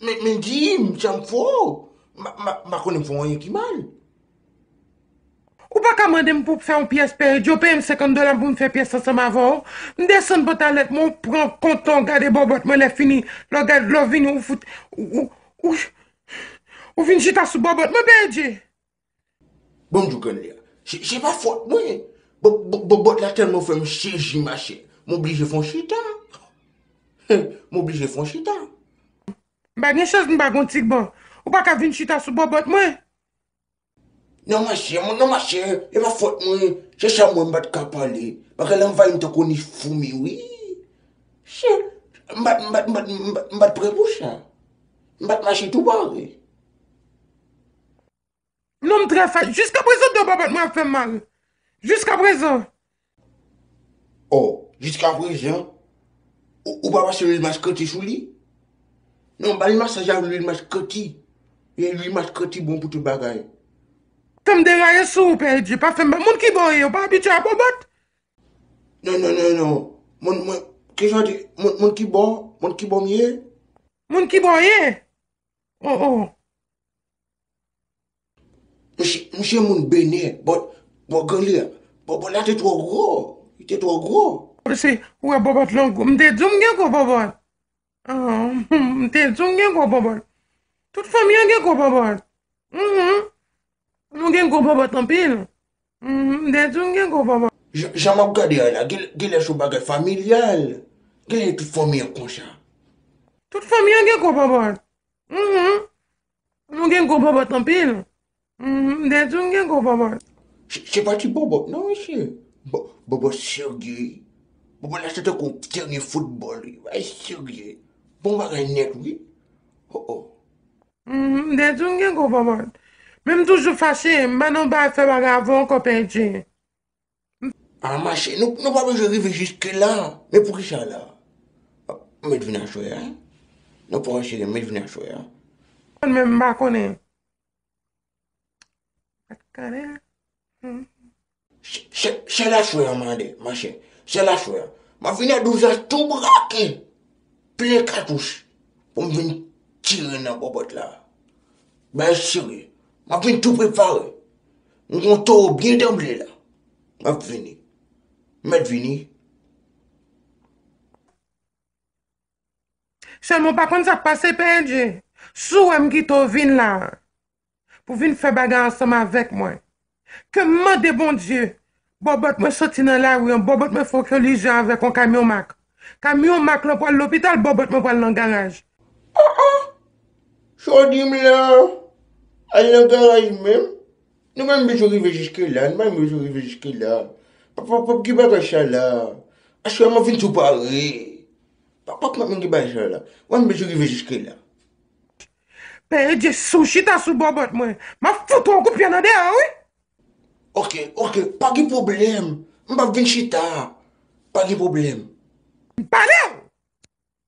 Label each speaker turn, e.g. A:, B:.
A: Men men di m sa m fè w. M pa konnen m fè w anyen ki mal.
B: Ou pa ka mande m pou m fè yon pyès peye Djo peye m 50 dola m pou m fè pyès ansanm avè w. M desann pantalèt mwen ou pran kontan w gade bòbòt mwen lè fini lè w gad lè w vini ou fout ou ou vin chita sou bòbòt mwen peye Dje.
A: Bonjou grann ya. Se pa fòt mwen. Bòbòt la tèlman fè m sezi machè. M oblije fè yon chita. M oblije fè yon chita. M pa
B: gen chans m pa gen yon ti bo. Ou pa ka vin chita sou bòbòt mwen. Non machè,
A: non machè. E pa fòt mwen. Se sa m wè m pa t ka pale. Bagay la anvayi m tankou ni foumi wi. Chè. M pa t, m pa t, m pa t, m pa t prè pou sa. M pa t mache tou pare.
B: Non m trè fat. Jiska prezan do babet mwen ap fèm mal. Jiska prezan. Oh
A: jiska prezan ou pa pase lwil maskreti sou li? Non bal masaj avk lwil maskreti. Ye lwil maskreti bon pou tout bagay. Tanm
B: deraye sou ou pè edje pa fèm mal. Moun kibo ou ye ou pa abitye a bobot? Non non non non moun
A: mwen kisa ou di moun kibo moun kibo m ye? Moun kibo ou
B: ye? Oh oh.
A: Mouche moun benè, but bò granli a, bò bò la te twò gwo, li te twò gwo. Mesi, ou wè bòbòt
B: lan gwo, m te di w m gen gwo bòbòt. M te di w m gen gwo bòbòt. Tout fanmi an gen gwo bòbòt. Nou gen gwo bòbòt anpil. M te di w m gen gwo bòbòt. Jan map gade a
A: la, gen lè son bagay familyal, gen lè tout fanmi an konsa. Tout fanmi
B: an gen gwo bòbòt. Mhmm Nou gen gwo bòbòt anpil Mhmm Dejou nou gen gwo bòbòt. Se pa ti
A: bòbòt non mesye, bòbòt serye, bòbòt la se tankou yon teren foutbòl wi, bagay serye, bon bagay nèt wi oh oh. Mhmm
B: Dejou nou gen gwo bòbòt. Men m toujou fache, m ba nou fè bagay avè w ankò Pèdi.
A: A mache, nou pa bezwen rive jiske la, men pou ki sa la? M met vin aswè a, nou pa wè cheri, m met vin aswè a. Mwen menm m pa
B: konnen. Pat konnen.
A: Se la aswè a mande, mache, se la aswè a. M ap vin a 12 a tou brake, plen katouch pou m vin tire nan bòbòt la. Bagay serye. M ap vin tou prepare. M kon towo byen danble la. Map vini. Met vini.
B: Selman w pa konn sak pase Pendje. Si w wè m kite w vin la pou vin fè bagay ansanm avèk mwen. Ke m mande Bondye Bòbòt mwen soti nan lari an, bòbòt mwen fè kolijan avèk yon kamyon mak. Kamyon mak lan pral lopital, bòbòt mwen pral nan garaj. Ah ah!
A: Jodi m la al nan garaj menm? Nou pa m bezwen rive jiske la, nou pa m bezwen rive jiske la. Papa pap gen bagay sa la. Aswè map vin tou pare. Pap pap gen bagay sa la. Nou pa m bezwen rive jiske la.
B: Pè Edye sou chita sou bòbòt mwen. Map fout ou yon kout pye nan deyò wi! Ok
A: ok pa gen problem m pap vin chita pa gen problem. M palew!